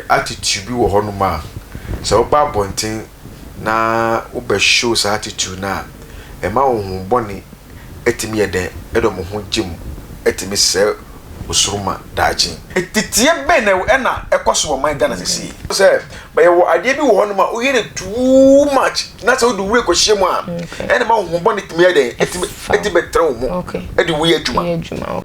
Attitude bi wɔ hɔnom a sɛ woba abɔnten na wobɛ show saa attitude no a, ɛma honhom bɔne tumi yɛ dɛn? Ɛdɔ mo ho gye mu tumi sɛe wo soro ma daakye. Teteɛ bɛn na na ɛkɔ so wɔ man Ghana seesei? Sɛ bɛ yɛwɔ adeɛ bi wɔ hɔnom a woyɛ no too much na sɛ wode wura kɔhyɛ mu a, ɛna ɛma honhom bɔne tumi yɛ dɛn? Tumi bɛtena wo mu de woyɛ adwuma.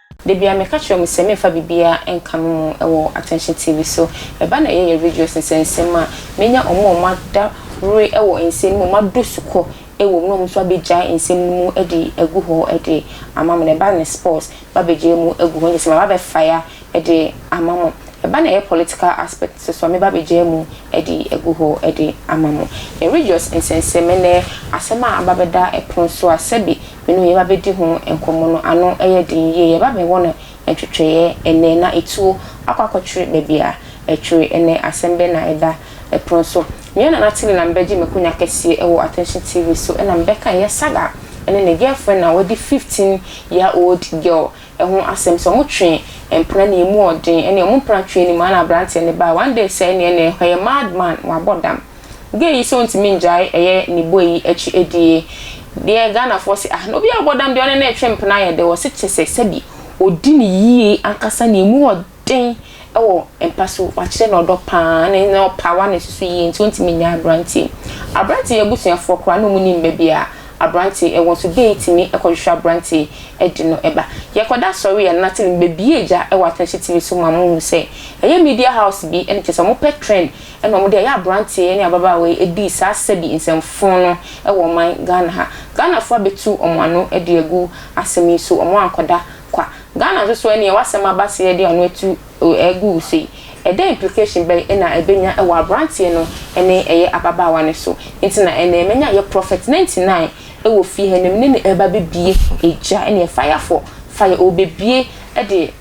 Da biara meka kyerɛ wɔn sɛ meremfa biribiara nka me mu wɔ Attention TV so. Ɛba na ɛyɛ yɛn videos nsɛnsɛm a, menya wɔn a wɔada were wɔ nsɛm no mu, wɔadɔ sukɔ wom na wɔn nso abɛgyae nsɛm no mu de agu hɔ de ama mo. Ɛba na sports, mabɛgyae mu agu hɔ, kyerɛ sɛ maba abɛ fire de ama mo. Ɛba na ɛyɛ political aspect nso so a, meba abɛgyae mu de agu hɔ de ama mo. Yɛn videos nsɛnsɛm ne asɛm a aba abɛda pono so a, sɛbe me ne wo yɛba bɛdi ho nkɔmmɔ no ano yɛ den yie. Yɛba bɛwɔ no ntwetweeɛ ɛnnɛ, na ɛtuo akɔ akɔtwere baabi a ɛtwere ɛnnɛ. Asɛm bɛn na ɛda pono so? Me yɛ Nana Tilly na mebɛgye m'akonya kɛseɛ wɔ Attention TV so na mebɛka ɛyɛ saga ne ne girlfriend a wadi 15 year old girl ho asɛm sɛ wɔn twe mpena ne ɛmu ɔden ne wɔn mpena twe anim a na abranteɛ no ba one day sɛ ɛneɛ na ɛyɛ mad man wabɔ dam Gay yi sɛ ontumi ngyae ɛyɛ ne bɔ yi akyi adie deɛ Ghanafoɔ se ah na obi a ɔbɔ dam deɛ ɔne no retwe mpena ayɛ dɛ wɔse te sɛ sɛbi odi no yie ankasa na emu wɔ den wɔ mpa so wakyerɛ no ɔdɔ paa ne na ɔpawa ne nso so yie nti ontumi nyae abranteɛ mu abranteɛ yi abusuafoɔ koraa na ɔmu nim baabi a abranteɛ ɛwɔ nso Gay tumi kɔhwehwɛ abranteɛ de no ba yɛkɔda asɔre a na tv bɛbie gya wɔ Atɔnhye TV so ma mo hu sɛ ɛyɛ media house bi ne kyerɛ sɛ wɔpɛ trend Ɛna wɔde ɛyɛ aberanteɛ yi ne ababaawa yi ɛdii saa sɛbi nsɛm fon no wɔ ɔman Ghana ha. Ghanafoɔ abɛtu wɔn ano de agu asɛm yi so, wɔn ankɔda kwa. Ghana nso so ɛneɛ w'asɛm aba se yɛde ano atu agu wo so yi, ɛdɛn implication bɛn na ɛbɛnya wɔ aberanteɛ no ne ɛyɛ ababaawa no so? Nti na ɛnɛ manya yɛ Prophet 99 wɔ fie ha na me ne no ɛreba bɛbie gya ɛneɛ fire for fire, ɔrebɛbie de.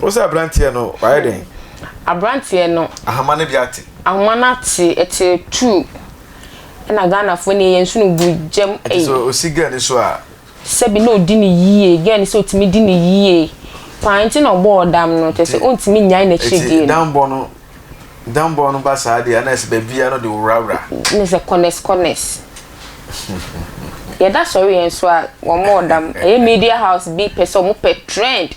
Wo sɛ abranteɛ no wayɛ dɛn? Abranteɛ no. Ahoma no bi ate. Ahoma no ate ɛte tuu. Ɛna Ghanafoɔ nie yɛn nso no gu gyam ei. Ɛte sɛ osi girl no so a. Sɛbi na odi no yie girl no sɛ otumi di no yie paa nti na ɔbɔɔ dam no kyerɛ sɛ ontumi nyae n'akyiri die no. Nti dambɔ no Danbɔ no ba saa deɛ na ɛsɛ baabiara no de worawura. Ne sɛ kɔnɛs kɔnɛs. Yɛda sɔre yɛn nso a wɔn ɔda m ɛyɛ media house bi pɛ sɛ wɔn pɛ trend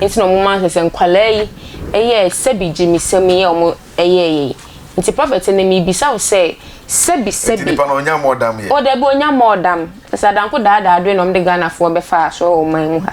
nti na wɔn ma sɛ sɛ nkwadaa yi ɛyɛ sɛbi gyimisɛm yi a wɔn ɛyɛ yɛ yi nti prɔfɛt ne mi bisa wo sɛ sɛbi sɛbi. Nti nipa no ɔnya mɔɔdam yɛ. O dabi ɔnya mɔɔdam sɛ adanko daadaa adwene na wɔn de Ghana foɔ bɛfa asɔre wɔ ɔman mu ha.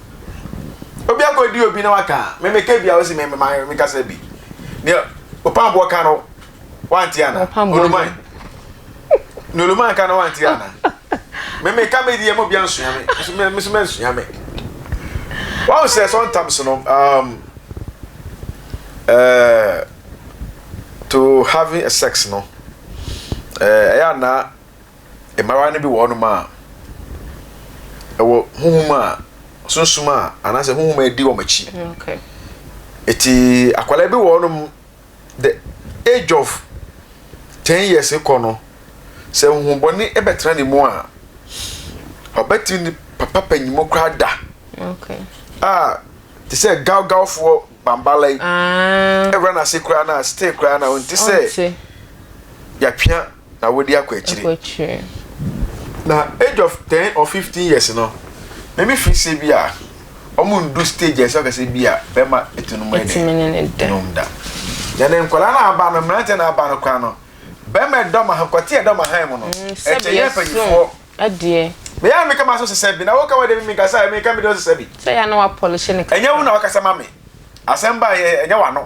obi akɔdi obi na waka a memeka bia ɔsi mekasa bi ne ɔpamboɔ ka no wante ana oluman ne oluman ka no wante ana memeka me deɛ mu bia nsua me nso mɛnsua me wɔn sɛ sometimes no um, uh, to having sex no ɛyɛ uh, anaa Mbara no bi wɔ hɔnom a wɔ honhom a sunsum a anaasɛ honhom a edi wɔn akyi. Okay. Eti akwadaa bi wɔ hɔnom the age of ten years kɔ no sɛ honhom bɔne ɛbɛtena ne mu a ɔbɛtumi ne papa panyinmu koraa da. Okay. A te sɛ gawgawfoɔ bambala yi. Ah. Ɛwura n'ase koraa na still koraa na ɔnte sɛ yɛatwea. na wodi akɔ akyire. Na age of ten or fifteen years no, meme firi sɛ bi a wɔn ndu stage a ɛsɛ ɔkɛ sɛ bi a bɛma etu no mu yɛ dɛ nom da. Na ne nkwadaa no aba no, mmeranteɛ no aba no koraa no, bɛma ɛdɔm aha, kɔte ɛdɔm ahan mu no, ɛkyɛ yɛ mpanyinfoɔ. Bɛyɛ a meka ma so sesa bi, na woka wɔ deɛ meka sa, meka me deɛ ɔsesa bi. Sɛ yɛ na wapɔlehye ne kasa. Ɛnyɛ wo na wakasa ma me, asɛm ba yɛ, ɛnyɛ w'ano.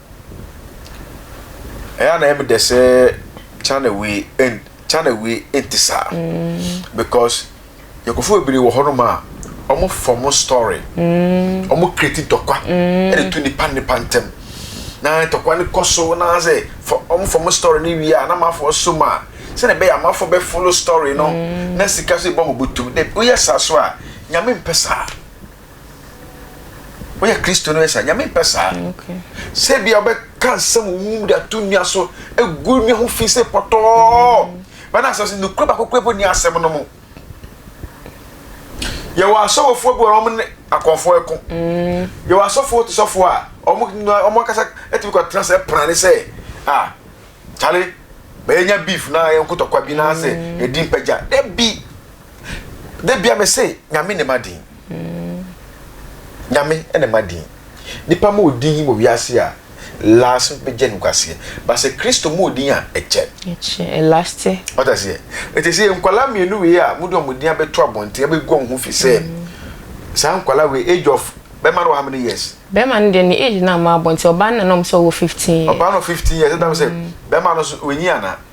ɛyɛ a na ɛyɛ me dɛ sɛ channel wei ɛn channel wei ɛnti saa mm. because yɛkɔfo bebree wɔ hɔnom a wɔn fɔm story mm. wɔn create ntɔkwa mm. ɛde tu nipa nipa ntɛm na ntɔkwa no kɔ so na sɛ wɔn fɔm story no wie a na amanfoɔ so mu a sɛdeɛ ɛbɛyɛ amanfoɔ bɛ follow story no na sika so ebɔ wɔn bɔtɔ mu dɛ oyɛ saa so a nyame mpɛ saa. Woyɛ Kristoni woyɛ saa? Nyame mpɛ saa. Sɛ ebia wobɛka nsɛm wɔ wo mu de ato nnua so, egu nnua ho fi sɛ pɔtɔɔ. Bɛna asɛm sɛ nokorɛ baako kura bɔ ni asɛm no mu. Yɛwɔ asɔfofoɔ bi wɔ wɔn ne akɔnfoɔ ɛko. Yɛwɔ asɔfoɔ te sɔfoɔ a wɔn wɔn ankasa ɛtumi kɔ tena sɛ ɛpena ne sɛ a kyale bɛyɛ nya beef na yɛn kotɔkwa bi na sɛ yɛdi mpagya. Dabi. debia me se nyame ne ma din nyame ne ma din nipa ma odin wɔ wiase a last no bɛgye no kwaseɛ ba sɛ kristo ma odin a ɛkyɛ ɛlaste ɔta seɛ ɛti sɛ nkwala mmienu wei a mode ɔmo din abɛto abɔnten abɛgu ɔmo ho fi sɛ mm. saa nkwala wei age of bɛma no wɔ how many years bɛma no deɛ ne age no ama abɔnten ɔbaa no na nom sɛ ɔwɔ 15 years ɔbaa no 15 years ɛdam sɛ mm. bɛma no so wɔnyi ana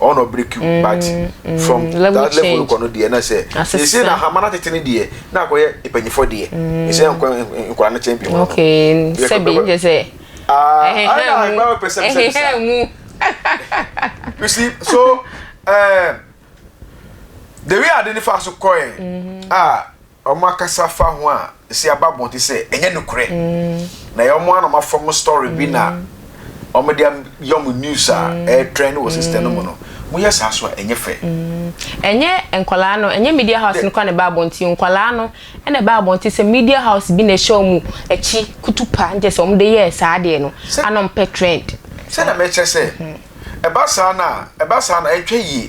ɔwɔ na ɔbrɛ kiw mm, but mm, from mm, that level no kɔ no deɛ na sɛ sɛsɛ na ahama no atete no deɛ na akɔyɛ mpanyinfoɔ deɛ ɛsɛ mm. nkɔ nkwadaa no kyɛn bi hɔ okay sɛbi n sɛ ɛhɛhɛ mu you see so uh, the way ade ne fa so kɔɛ a Wɔakasa fa ho a esi aba abɔnten sɛ ɛnyɛ nokorɛ, na ɛyɛ wɔn ara na wɔafɔm story bi na wɔde ayɛ wɔn news a ɛretrend wɔ system no mu no. Moyɛ saa nso a, ɛnyɛ fɛ. Ɛnyɛ nkwadaa no, ɛnyɛ media house no koraa na ɛbaa abɔnten o, nkwadaa no na ɛbaa abɔnten sɛ media house bi na ɛhyɛ wɔn akyi kutupa, nkyerɛ sɛ wɔde yɛɛ saa adeɛ no a na wɔpɛ trend. Sɛdeɛ merekyerɛ sɛ, ɛba saa no a, ɛba saa no a, ɛnhwɛ yie.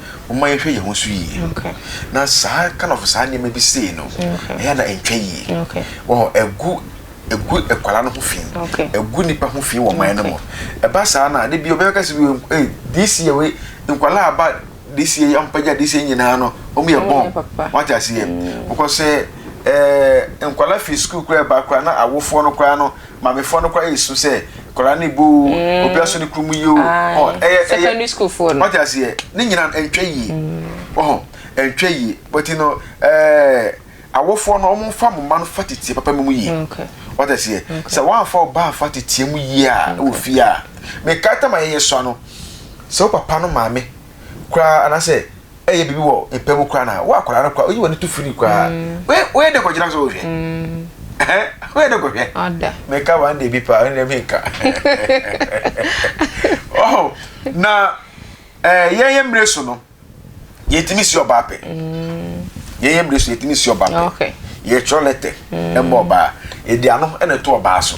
Momma yɛnhwɛ yɛn ho so yie. Na saa kind of saa nneɛma bi sei no, ɛyɛ a na ɛntwa yie. Wɔhɔ ɛgu ɛgu akwadaa no ho fi, ɛgu nipa ho fi wɔ ɔman no mu. Ɛba saa na de bi ɔbɛka sɛ wei ee this year wei nkwadaa aba this year ampagya this year nyinaa no wɔn yɛ bɔn wɔate aseɛ. Wɔkɔ sɛ ɛɛ nkwadaa fi sukuu koraa ba koraa na awofoɔ no koraa no. Maame foɔ no kɔ ayɛ su sɛ kɔla ne bo o, mm. obi aso ne kuru mu yie o. Ɔhɔ ɛyɛ ɛyɛ secondary school foɔ no. Ɔte aseɛ ne nyina ɛntwa yie. Ɔhɔ ɛntwa yie but you know ɛɛ awofoɔ no wɔn fa mo mma no fa tete papa mu yie. Ɔte aseɛ sɛ wɔn afa ɔbaa afa tete mu yie a ɛwɔ fie a mɛ kaata ma yɛyɛ sɔ ano sɛ wo papa no maame koraa anaasɛ ɛyɛ biribi wɔ mpɛ mu koraa na wo akwadaa no koraa oyi w'ani to firi koraa mm. woyɛ dɛ kɔgyina so wohwɛ mm. woyɛ dɛ kɔhwɛ meka one day bi paa ɛne dɛ menka oh, na eh, yɛyɛ mmerɛ so no yɛtumi si ɔbaa pɛ mm. yɛyɛ mmerɛ so yɛtumi si ɔbaa pɛ yɛtwerɛ lɛtɛ ɛmmɔ ɔbaa ɛdi ano ɛna ɛto ɔbaa so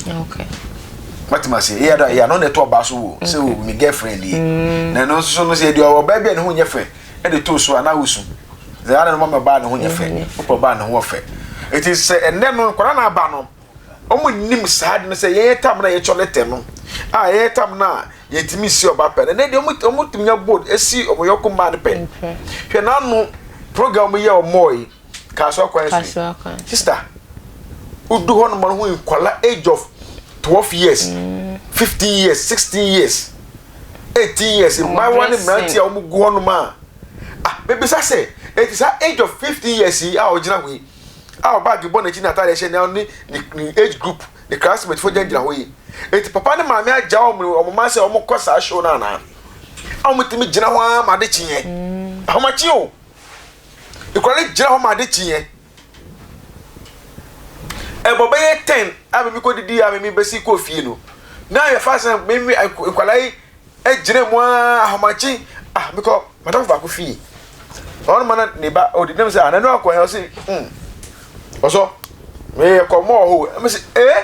wate ma se eya da eya no na ɛtɔ ɔbaa so wo sɛ o me girlfriend yi na ɛno nso so no sɛ ɛdeɛ ɔbaa bi a ne ho nyɛ fɛ ɛde too so a na wosu sɛ ana no mama ɔbaa ne ho nyɛ fɛ wopɛ ɔbaa ne ho ɔfɛ ɛti sɛ ɛnɛ no nkwadaa na aba no wɔn nim saa de no sɛ yɛyɛ tam na yɛtɔ ne tɛ no a yɛyɛ tam na yɛtumi si ɔbaa pɛ no ɛnɛ deɛ wɔn tumi nya bold esi wɔn yɔko mmaa no pɛ hwɛ n'ano program yɛ wɔn yi Kasoa Kwan Street. Kasoa Kwan Street. Sister, wodu hɔ nom no ho nkwala age of twelve years, mm. fifteen years, sixteen years, eighteen years, mmaayewa ne mmerante a wɔn gu hɔ nom a, ah, bebisa sɛ, eti saa age of fifteen years yi a ɔgyina hɔ yi, a ɔbaage bɔ n'akyi na ataade hyɛ na ɔne ne ne age group ne classmate fo gyinagyina hɔ yi, eti papa ne maame agya wɔn wɔn mma sɛ wɔn kɔ saa show no anaa? A wɔn tumi gyina hɔ ara ma ade kyeɛ, mm. ahomakye o. Ekura no gyina hɔ ma ade kye yɛn. Ɛbɔ bɛyɛ ten a mimi kɔ didi a mimi bɛsi kɔ fie no. Na yɛ fa sɛn mimi nkwadaa yi gyina mu aa ahomakye ah mekɔ madam baako fie. Ɔno ma na ne ba ɔdi nam sɛ ananu akɔ yɛn ɔsi hmm ɔsɔ meyɛ kɔ mɔɔ hɔ ɛmi sɛ ee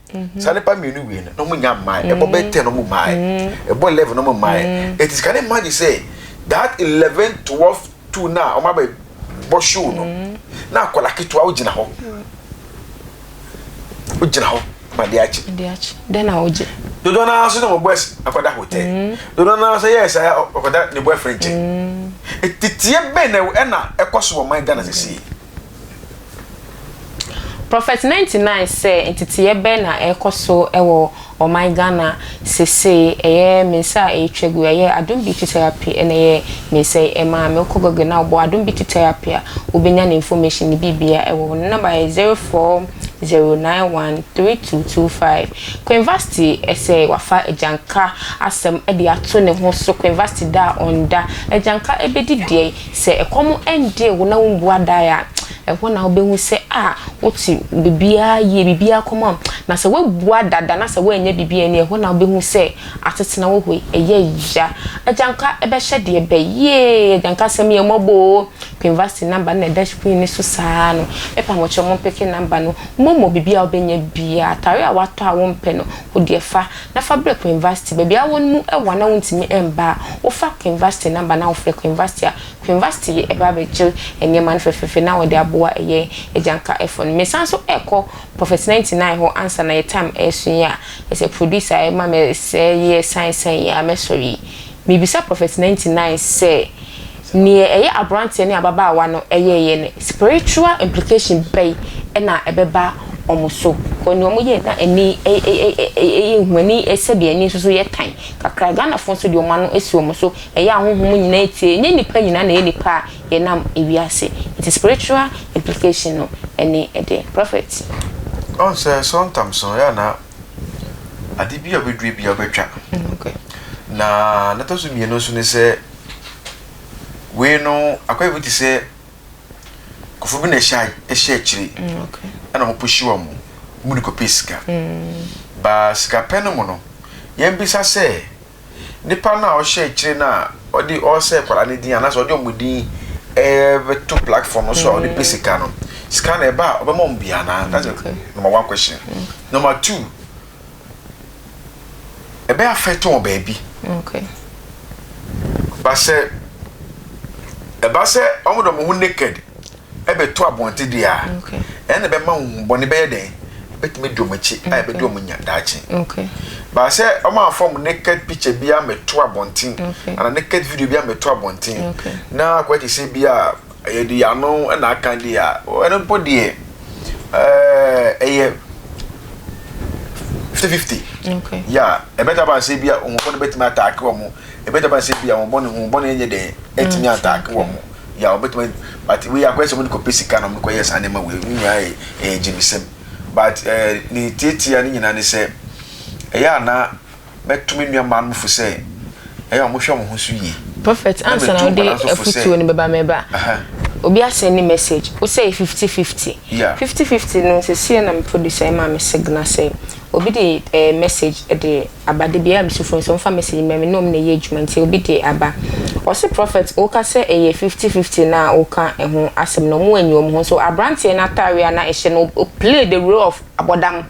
Mm-hmm. saa nipa mmienu wie no na ɔmo nya mmae ɛbɔ bɛ ten ɔmo mmae ɛbɔ eleven ɔmo mmae eti sika ne mmae sɛ that eleven twelve two na ɔmo abɛ bɔ show no na akɔla ketewa ogyina hɔ ogyina hɔ ma de akyi dɛn na ogye dodo naa nso na ɔmo bɔ ɛs akɔda hotel dodo naa nso yɛ ɛsɛ ɔkɔda ne boyfriend kyɛ titiɛ bɛn na ɛna ɛkɔ so wɔ man ghana sisi. Prophet 99 sɛ nteteeɛ bɛn na ɛrekɔ so wɔ ɔman Ghana sesei, ɛyɛ me nsa a ɛretwa gu, ɛyɛ Adom Beauty Therapy na ɛyɛ me nsa yi ɛma a, me wokɔ Google na wobɔ Adom Beauty Therapy a, wobɛnya ne information ne biribiara ɛwɔ hɔ, ne number yɛ 0409132225. Queen Vasti sɛ wafa Agyanka asɛm de ato ne ho so, Queen Vasti da a ɔnda, Agyanka ɛbɛdi deɛn? Sɛ ɛkɔm dee wo na wombu adae a, ɛhɔ na wobɛhu sɛ ah wote biribiara yie, biribiara kɔm a. Na sɛ woabu adada na sɛ woannya biribi anni a, ɛhɔ na wobɛhu sɛ asetena wɔ hɔ yi, ɛyɛ ya. Agyanka bɛhyɛ deɛ bɛ? Yee! Agyanka asɛm yɛ mmɔbɔ o! Penvasty number no na ɛda screen no so saa no. Mɛpa mo kyɛw mompeke number no. Momo, biribiara a wobɛnya biara, atadeɛ a woatɔ a wompɛ no, wo deɛ fa. na fa brɛ Queen Vashti. Baabi a wɔn mu wɔ a na wontumi mba a, wofa Queen Vashti namba na wofrɛ Queen Vashti a, Queen Vashti ye ba bɛgye nneɛma no fɛfɛɛfɛ na wɔde aboa ɛyɛ agyanka ɛfɔ no. Mesan so ɛkɔ Prophet 99 hɔ ansa na yɛ time ɛreso yi a, ɛsɛ producer a ɛma me sɛɛ yɛ sign sign yi a mɛsɔre yi. Mebisa Prophet 99 sɛ. Nea ɛyɛ aberanteɛ ne ababaawa no yɛeɛ no, spiritual implication bɛn na ɛbɛba wɔn so? Because nea wɔyɛɛ no na ani yɛ hu, ani sɛdeɛ ani nso so yɛ tan kakra. Ghanafoɔ nso deɛ wɔn ano si wɔn so, ɛyɛ a honhom nyinaa tie, ɛnyɛ nnipa nyinaa na ɛyɛ nnipa a yɛnam wiase. Nti spiritual implication no ne deɛ. Prophet. Ɔhu sɛ sometimes no ɛyɛ a na ade bi a wobɛdua biara wobɛtwa. Na nea ɛtɔ so mmienu nso ne sɛ. wei no akɔyɛ bi te sɛ kɔfo bi na ɛhyɛ ɛhyɛ akyire ɛna wɔn pushi wɔn mo mu de kɔpɛ sika baa sika pɛ no mu no yɛn bisa sɛ nipa no a ɔhyɛ akyire no a ɔde ɔresɛ kwadaa no din anaasɛ ɔde wɔn din ɛbɛto platform no so a ɔde pɛ sika no sika na ɛba a ɔbɛma wɔn bi anaa that's the number one question number two. ɛbɛ affect wɔ baabi okay ba sɛ ɛba sɛ wɔn de wɔn ho naked ɛbɛto abɔnten deɛ a ɛna ɛbɛma wɔn bɔne bɛyɛ dɛn ɛbɛtumi di wɔn akyi a ɛbɛdi wɔn nya daakye ba sɛ wɔn afa wɔn naked picture bi amɛto abɔnten ana naked video bi amɛto abɔnten na akɔyɛ te sɛ bi a Ɛyɛ deɛ ano na aka deɛ a, ɛno mpo deɛ ɛyɛ fifty fifty. Okay. Yeah, ɛbɛtumi aba sɛ bi a wɔn bɔne bɛtumi ataake wɔn, ɛbɛtumi aba sɛ bi a wɔn bɔne wɔn bɔne nyɛ dɛn ɛtumi ataake wɔn. Yeah, wɔbɛtumi but wei akɔyɛ sɛ wɔn de kɔ pɛ sika na wɔn kɔ yɛ saa nneɛma wei ne nyinaa yɛ ɛyɛ gyimisɛm but ɛɛ ne tiatia ne nyinaa ne sɛ ɛyɛ ana. Mɛto me nuammaa no fo sɛ ɛyɛ a wɔhwɛ wɔn ho so yie. Prophet ansa na wode afutuo no bɛba meba obi asɛndi message wo sɛe fifty fifty fifty fifty no sesie na me producer ɛmaa me signal sɛ obi de ɛɛ message ɛde aba da biara mesu frɛ wɔn sɛ wɔmfa message mma me ne wɔn na ɛyɛ adwuma nti obi de aba ɔse prophet woka sɛ ɛyɛ fifty fifty no a woka ɛho asɛm no wɔn anyi wɔn ho so abranteɛ no ataareɛ a na ɛhyɛ no o play the role of abɔdam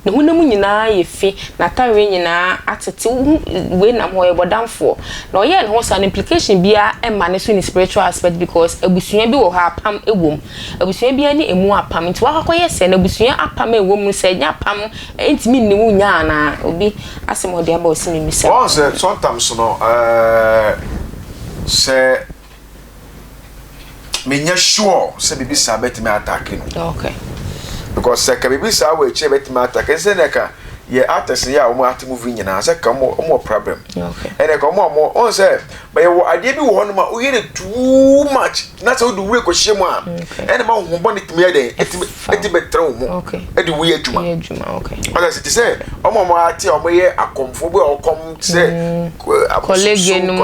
Ne honam nyinaa ayɛ fi, n'atadeɛ nyinaa atete. Wohu wei nam hɔ, ɔyɛ bɔdamfoɔ. Na ɔyɛɛ ne ho saa no, implication biara mma ne so in a spiritual aspect because abusua bi wɔ hɔ a apam wɔ mu. Abusua biara ne ɛmu apam. Nti woakɔ akɔyɛ sɛɛ no, abusua apam a ɛwɔ mu no, sɛ ɛnyɛ apam a, ɛntumi nni wo nya anaa? Obi asɛm a ɔde aba a ɔse memmisa. Woahu sɛ sometimes no, eh, sɛ menyɛ sure sɛ biribi saa bɛtumi atake no okay. because sɛ ka biribi saa wɔ akyire bɛtumi atake ne sɛ na ɛka yɛ artist yɛ a wɔn ate movie nyinaa sɛ ka wɔn wɔn wɔ problem ɛna ka wɔn a wɔn wɔn sɛ bɛyɛ wɔ adeɛ bi wɔ hɔ nom a woyɛ no too much na sɛ wode wura kɔhyɛ mu a ɛna ma wɔn bɔ ne tumi yɛ dɛn ɛtumi ɛtumi bɛtɛrɛ wɔn mu ɛde woyɛ adwuma ɔsɛ sɛ te sɛ wɔn a wɔn ate a wɔyɛ akɔmfo bi a wɔkɔm sɛ kɔlege no mu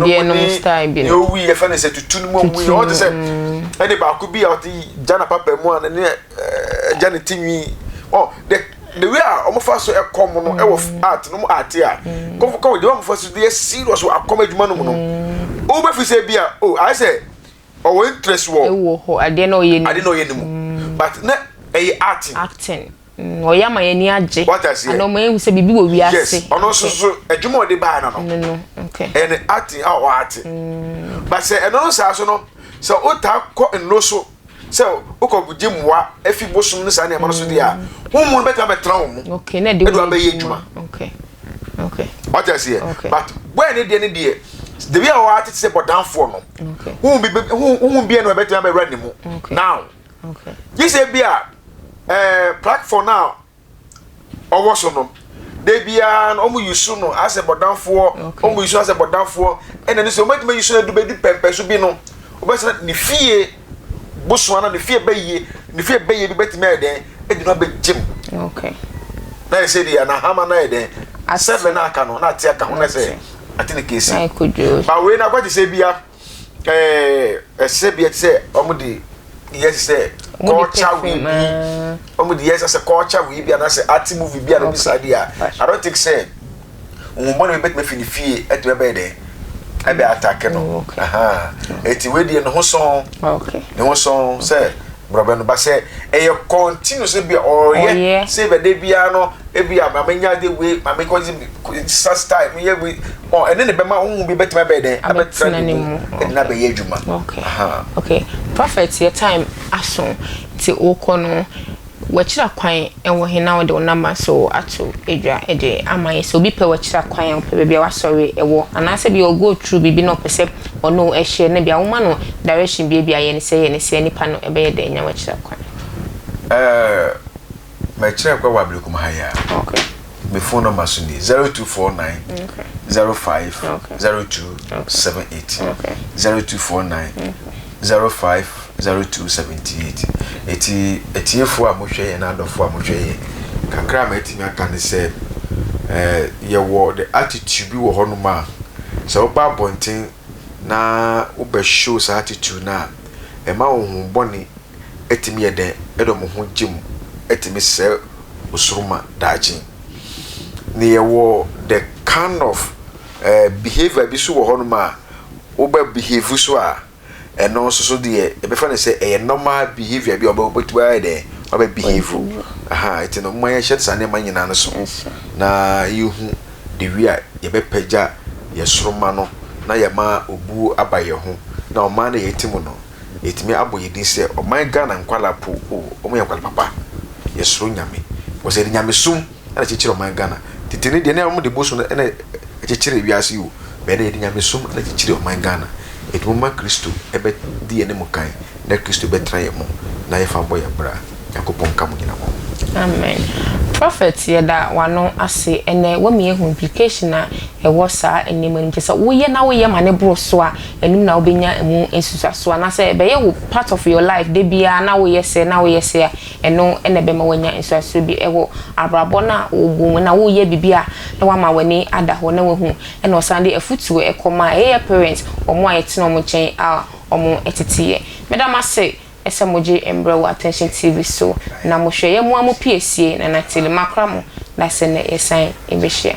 deɛ nom style bi no owi yɛfɛ no sɛ tutu no mu owi yɛ ɔte sɛ ɛne baako bi a ɔte gya na papa mu a ne ne gya ne ti nwi ɔ de the way a wɔn fa so ɛkɔm no ɛwɔ mm. art no mu art a mm. kɔfɔ kɔfɔ de wɔn fa so de yɛ serious wɔ akɔm adwuma no mu no mm. wɔn bɛ fi sɛ bi a o oh, ayɛ sɛ ɔwɔ interest wɔ ɛwɔ hɔ adeɛ na ɔyɛ ne mu adeɛ na ɔyɛ ne mu but na ɛyɛ acting acting. Mm, ɔyɛ ama yɛn ani agye. Ana ɔma yɛhu sɛ biribi wɔ wiase. Yes, ɔno nso so adwuma ɔde baa no no. No no, okay. Ɛyɛ ne acting a ɔate. Mm. Ba sɛ ɛno no saa so no, sɛ wotaa kɔ nno so sɛ wokɔ gye mmoa afi bosom no saa nneɛma no so deɛ a, wo mu no bɛtumi bɛtena wo mu. Okay, na ɛde wo abɛyɛ adwuma. Okay. Okay. Ɔte aseɛ. Okay. But wɛn ne deɛ ne deɛ debi a ɔate te sɛ bɔdanfoɔ no. Okay. Wo bi wo bi ɛna ɛbɛtumi abɛwura ne mu. Okay. Now. gye sɛ bi a ɛɛ platform a ɔwɔ so no da biara no wɔn yusu no asɛ bɔdanfoɔ wɔn yusu asɛ bɔdanfoɔ ɛna ne sɛ wɔn adwuma yusu no edu bɛdu pɛmpɛ so bi no wɔbɛsɛ ne fie bosoa na ne fie bɛyie ne fie bɛyie bi bɛtumi ayɛ dɛn ɛdi na bɛgye mu na yɛ sɛ deɛ na hama na yɛ dɛn asɛ bɛ na aka no na ate aka ho na sɛ ate ne kesi ba wei na akɔgye sɛ bia. ɛɛ ɛsɛbea te sɛ wɔn de yɛ te sɛ culture wei bi wɔn de yɛ te sɛ culture wei bi anaasɛ art movie bi anaasɛ saa bi a i don't think sɛ nhobɔ na ebɛtumi fi ne fie ɛtumi ɛbɛyɛ dɛ ɛbɛ atake no eti wei deɛ ne ho sɔn ne ho sɔn sɛ. borɔbɛ no ba sɛ ɛyɛ kɔntinu sɛ bia ɔreyɛ sɛ bia da biara no ebi a maame nya de wei maame kɔ sa style mi yɛ wei ɔ ɛne ne bɛma ohun bi bɛtuma bɛyɛ dɛn abɛtena ne mu ɛde na bɛyɛ adwuma. okay okay prophet yɛ time aso nti okɔ no wakyira kwan ɛwɔ he na ɔde ɔnama so ato adwa ɛde ama yɛ sɛ obi pɛ wakyira kwan a ɔpɛ baabi a wasɔre ɛwɔ anaasɛ bi ɔgo through biribi na ɔpɛ sɛ. Ɔno hyɛ no bia woma no direction bia bia yɛne sɛ yɛne sɛ nipa no ɛbɛyɛ dɛn nya wakyerɛ kwan. Ɛɛɛ mɛ kyerɛ kwan wɔ abirikum ha yi a. Ok. Me phone number so ni zero two four nine. Ok. Zero five. Ok. Zero two. Ok. Seven eight. Ok. Zero two four nine. Zero five. zero two seventy eight eti atiefo a mo hwɛ yɛn na adɔfo a mo hwɛ yɛn kakra a ma etimi aka ne sɛ ɛɛ yɛ wɔ the attitude bi wɔ hɔ nom a sɛ ɔba abɔnten na wo bɛ show saa attitude na ɛma wo ho bɔne etimi yɛ dɛn ɛdɔ mo ho gye mo etimi sɛ osoro ma daakye ne yɛ wɔ the kind of ɛɛ behavior bi so wɔ hɔ nom a wo bɛ behave so a ɛno nso so deɛ yɛbɛfa no sɛ ɛyɛ normal behaviour bi a wɔbɛtumi ayɛ dɛ wɔabɛ behave aha ɛti no mma yɛhyɛ saa nneɛma nyinaa no so na yɛhu de wi a yɛbɛpɛgya yɛ soroma no na yɛma obuo aba yɛ ho na ɔman no yɛte mu no yɛtumi abɔ yɛ din sɛ ɔman Ghana nkwala po o wɔn yɛ nkwala papa yɛsoro nyame wɔsɛ de nyamesum ɛna ɛkyekyere ɔman Ghana tete no deɛ na wɔn de bosu no ɛna ɛkyekyere wiase yi o bɛyɛ na yɛde nyamesom ɛna ɛkyekyere ɔman Ghana eti mo ma Kristo ɛbɛ di yɛn ne mo kan na Kristo bɛ tena yɛn mo na yɛ fa mbɔ yɛn bra Nyankopɔn nka mo nyina mo. Amen prophet yɛda wano ase ɛnɛ wama yɛ hu implication a ɛwɔ saa nneɛma nom kyesɛ wo yɛ na wo yɛ ma no boro so a ɛnom na wo bɛ nya ɛmu nsusuasoɔ anasɛ ɛbɛ yɛ wo part of your life da biaa na wo yɛ sɛ na wo yɛ sɛ a. Ɛno na ɛbɛma woanya nhyɛaso bi wɔ abrabɔ no a wogu mu na woreyɛ biribi a na wama w'ani ada hɔ na wahu na ɔsan de afutuo kɔma yɛyɛ parents wɔn a yɛtena wɔn nkyɛn a wɔn tete yɛ. Meda mo ase sɛ mogye mbrɛ wɔ Attention TV so na mohwɛ yɛ moa mo piesie Nana Tele makora mo na sɛ nnɛ yɛsan bɛhyia.